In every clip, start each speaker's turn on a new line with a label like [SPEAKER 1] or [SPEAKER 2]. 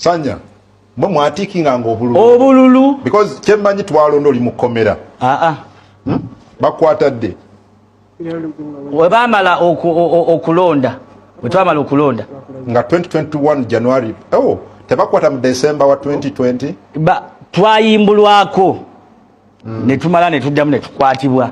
[SPEAKER 1] sanya mwe mwatikinga nga obululu obululu
[SPEAKER 2] because kyemanyi
[SPEAKER 1] twalonda oli mukomera aa ah, ah. hmm? bakwata dde
[SPEAKER 2] webamala okulonda wetwamala okulonda nga 2021
[SPEAKER 1] january oh, tebakwata mu december wa 2020 ba twayimbulwako
[SPEAKER 2] mm. netumala netuddamu netukwatibwa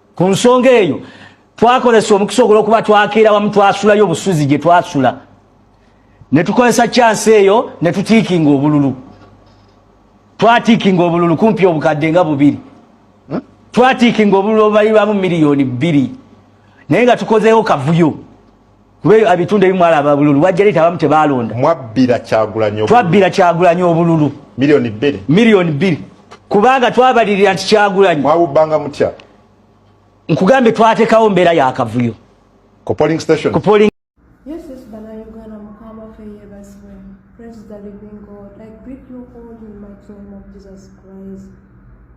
[SPEAKER 2] ku nsonga eyo twakozesa omukisa ogulwokuba twakeera wamu twasulayo obusuzi gye twasula ne tukozesa kyansi eyo ne tutiikinga obululu twatiikinga obululu kumpi obukadde nga bubiri hmm? twatiikinga obululu obubalirwamu miliyoni bbiri naye nga tukozeewo kavuyo kuba eyo abitunda ebimu alaba bululu bwajja leeta abamu tebaalonda mwabbira kyagulanyi twabbira kyagulanyi obululu miliyoni bbiri miliyoni bbiri kubanga twabalirira nti kyagulanyi mwabubbanga mutya nkugambye twatekawo mbeera yakavuyo ku polling
[SPEAKER 1] station ku polling yes yes
[SPEAKER 3] banayuganda mukama fe yebazibwe praise the living god i greet you all in my name of jesus christ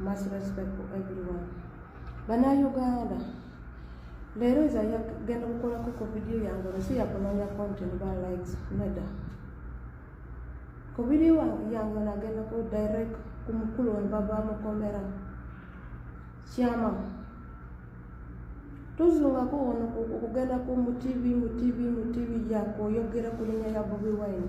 [SPEAKER 3] Much respect for everyone. Bana Uganda. Lero za ya genda kukola kuko video yangu nsi ya kunonya content ba likes nada. Ko video yangu na genda ku direct kumukulu wa baba mu kamera. Chama. Tuzunga ko ono kugenda ku mu TV mu TV mu TV yako yogera kulinya ya Bobi Wine.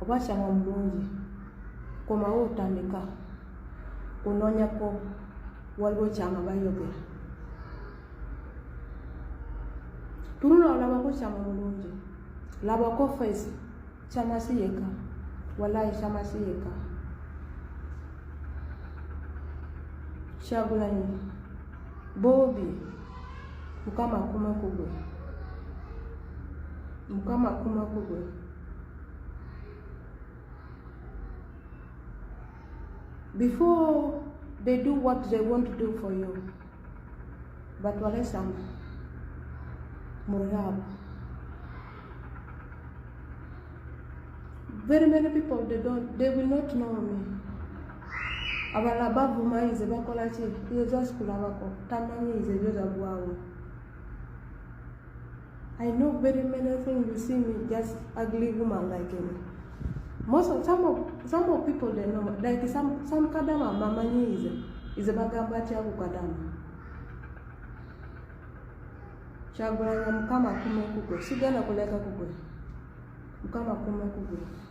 [SPEAKER 3] obwakyama omulungi komawo otandika kunonyako waliwo kyama bayogera tunula olabako kyama omulungi labako fesi kyamasi yeka walayi kyamasi yeka kyagulanyi bobi mukama akuma kugwe mukama akuma kugwe before they do what they want to do for you batwale samba mu rehab very many people they don't they will not know me abalala bavuma nze bakola ki ezo zasikulabako tamanyi nze ezo zagwawo I know very many things you see me just ugly woman like him. Most of some of some of people they know like some some kadama mama nyize is bagamba ati ako kadama. Chagulanya mukama kume kugwe sigana kuleka kugwe. Mukama kume kugwe.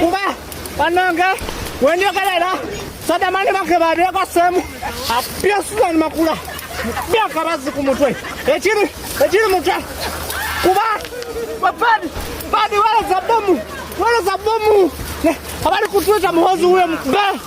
[SPEAKER 4] Kuba banange wenjogerera sadamani bakebadeeko semu apya Susan Makula bya akabazi ku mutwe ekiri ekiri mutwe kuba bapadi padi wereza bomu wereza bomu abali kutwita muhozi huyo mkubee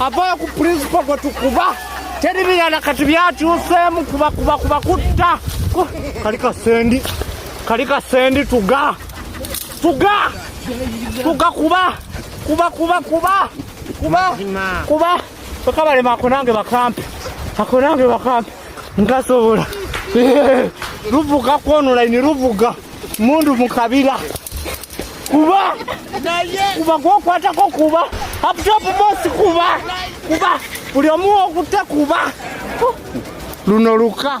[SPEAKER 4] avaayo ku pulinsipo gwe tukuba teri birala kati byakyuseemu kuba kuba kuba kutta kali kasendi kali kasendi tuga tuga tuga kuba kuba kuba kuba kuba kuba bakabalema ako nange bakampe ako nange bakampe nkasobola luvuga kwonulaini luvuga mundu mukabira kuba kuba gwokwatako kuba aptop bosi kuba kuba buli omu okutte kuba luno luka